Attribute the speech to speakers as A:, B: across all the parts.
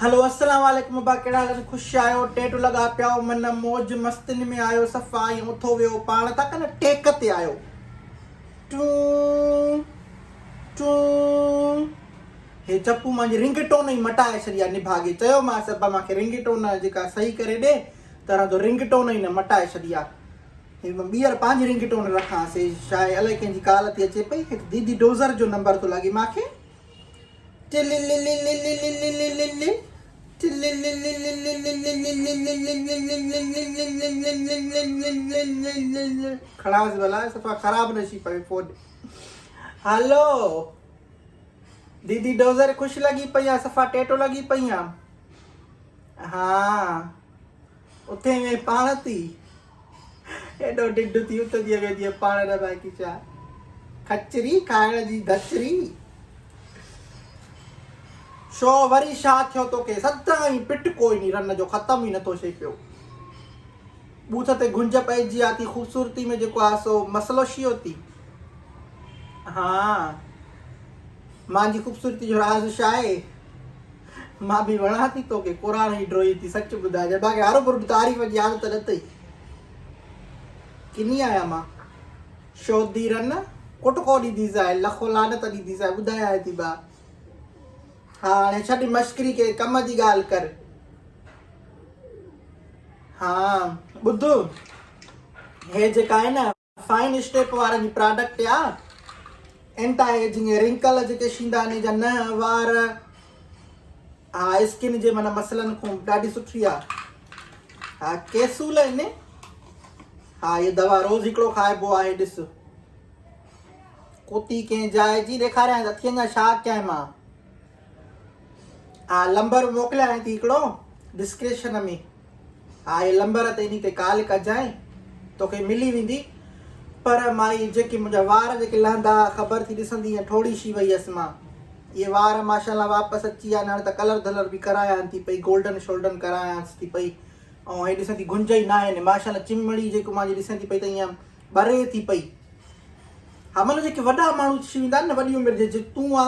A: هلو السلام عليڪم ابا ڪهڙا حال آهن خوش آهيو ٽيڊو لڳا پيا آهيو من موج مستين ۾ آهيو صفا ائين اٿو ويهو پاڻ ٿا ڪن ٽيڪ تي آهيو ٽون ٽون هي چپو مانجي رنگ ٽون ئي مٽائي ڇڏي آهي نڀاڳي چيومانس ابا مانکي رنگ ٽون جيڪا صحيح ڪري ڏي ترا تو رنگ ٽون ئي نه مٽائي ڇڏي آهي ٻيهر پنهنجي رنگ ٽون رکان سي شايد الائي ڪنهن جي ڪال ٿي اچي پئي هڪ ديدي ڊوزر جو نمبر ٿو لڳي مانکي کڻائس ڀلا صفا خراب نه ٿي پوي فون هلو ديدي ڊوزر خوش لڳي پئي آ صفا ٽيٽو لڳي پئي آ ها اٿي وئي پاڻ ٿي ايڏو ڍڍ ٿي ات جيئن وينديء پاڻ نه باقي ڇا کچري کائڻ جي ڌچري. شو وري شا ٿيو توکي سدائين پٽ ڪوئني رن جو ختم ئي نٿو ٿئي پيو. بوٿ تي گهنج پئجي آ ٿي خوبصورتي ۾ جيڪو آ سو مسئلو شيو ٿي. ها مانجي خوبصورتي جو راز شا آهي. مان به وڻان ٿي توکي. قرآن هي ڊوهين ٿي سچ ٻڌاء جنهن مانکي هر برد تعريف جي عادت نه اٿئي ڪني آهيان مان شودي رن ڪٽ ڪو ڏيندي سائين لکو لعنت ڏيندي سائين ٻڌايانء ٿي مان هاڻي ڇڏ مشڪري ڪنهن ڪم جي ڳالهه ڪر ها ٻڌ هي جيڪا آهي نه فائن اسٽيپ وارن جي پراڊڪٽ آ اينٽا ايجنگ رنڪل جيڪي شيندا آهن جا نه وار ها اسڪن جي من مسئلن کون ڏاڍي سٺي آ ها ڪيسول ان ها هي دوا روز هڪڙو کائبو آهي ڏس ڪوتي ڪين جاء جي ڏيکاريان اٿين جا شا ڪين مان آء لمبر موڪليانء ٿي هڪڙو ڊسڪريشن ۾ آء لمبر تي انهي تي ڪال ڪجانء توکي ملي ويندي پر مائي جيڪي منهنجا وار جيڪي لهندا خبر ٿي ڏسندي ۽ ٺوڙي شي وئي هيس مان اهي وار ماشاءالله واپس اچي ويا آهن هاڻي ته ڪلر ڌلر به ڪرايان ٿي پئي گولڊن شولڊن ڪرايانس ٿي پئي ۽ هي ڏسندي گنج ئي ناهي نه ماشاءالله چمڙي جيڪو مانجي ڏسندي پئي ته ائين ٻري ٿي پئي همن جيڪي وڏا ماڻهو ٿي ويندا آهن نه وڏي عمر جي جي تون آ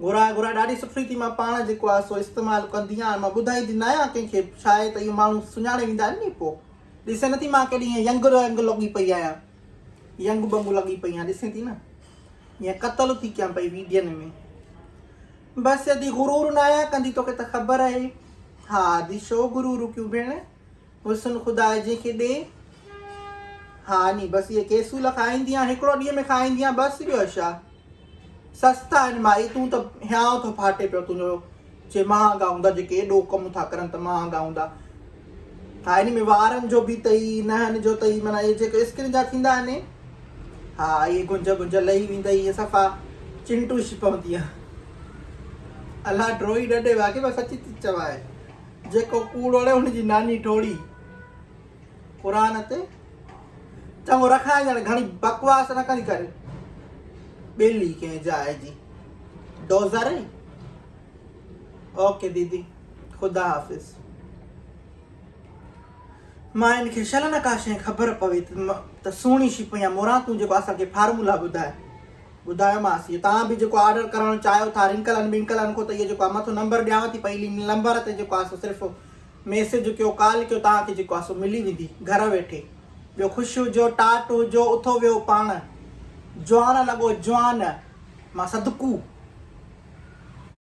A: گهران گهران ڏاڍي سٺي ٿي مان پاڻ جيڪو آهي سو استعمال ڪندي آهيان مان ٻڌائيندي نه آهيان ڪنهن کي ڇا آهي ته اهو ماڻهو سڃاڻي ويندا آهن ني پو ڏسين نه ٿي مان ڪيڏي ائين ينگ رنگ لڳي پئي آهيان ينگ بنگ لڳي پئي آهيان ڏسين ٿي نه ائين قتل ٿي ڪيان پئي ويڊين ۾ بس ادي غرور نه آهيان ڪندي توکي ته خبر آهي ها ادي شو غرور ڪيون ڀيڻ حسن خدا آهي جنهن کي ڏي. ها ني بس اهي ڪيسول کائيندي آهين هڪڙو ڏينهن ۾ کائيندي آهين بس ٻيو اشا سستا آهن مائي تون ته هيانء ٿو ڦاٽي پيو تنهنجو چي مهانگا هوندا جيڪي ايڏو ڪم ٿا ڪرن ته مهانگا هوندا ها ني ۾ وارن جو به تئي نهن جو تئي معنی اهي جيڪي اسڪن جا ٿيندا آهن ها اهي گنج گنج لهي ويندا اهي صفا چنٽوش پوندي الا ڊروئي ڏڏي واقعي بس سچي چوائي جيڪو ڪوڙ اڙي ان جي ناني ٽوڙي قرآن تي چڱو رکائين ڄڻ گهڻي بڪواس نه ڪندي ڪري ٻيلي ڪنهن جاء جي ڊوزر اي اوڪي ديدي خدا حافظ مان ان کي شل نه ڪا شيء خبر پوي ته سهڻي شي پيان موران تون جيڪو اسان کي فارمولا ٻڌائي ٻڌايومانس يي توهان به جيڪو آرڊر ڪرڻ چاهيو ٿا رنڪلن ٻنڪلن کون ته اهو جيڪو آهي مٿو نمبر ڏيانو ٿي پئي ان نمبر تي جيڪو آهي سو صرف ميسج ڪيو ڪال ڪيو توهان کي جيڪو آهي سو ملي ويندي گهر ويٺي ٻيو خوش هجو ٽاٽ هجو اٿو ويهو پاڻ جوان لڳو جوان مان صدقو.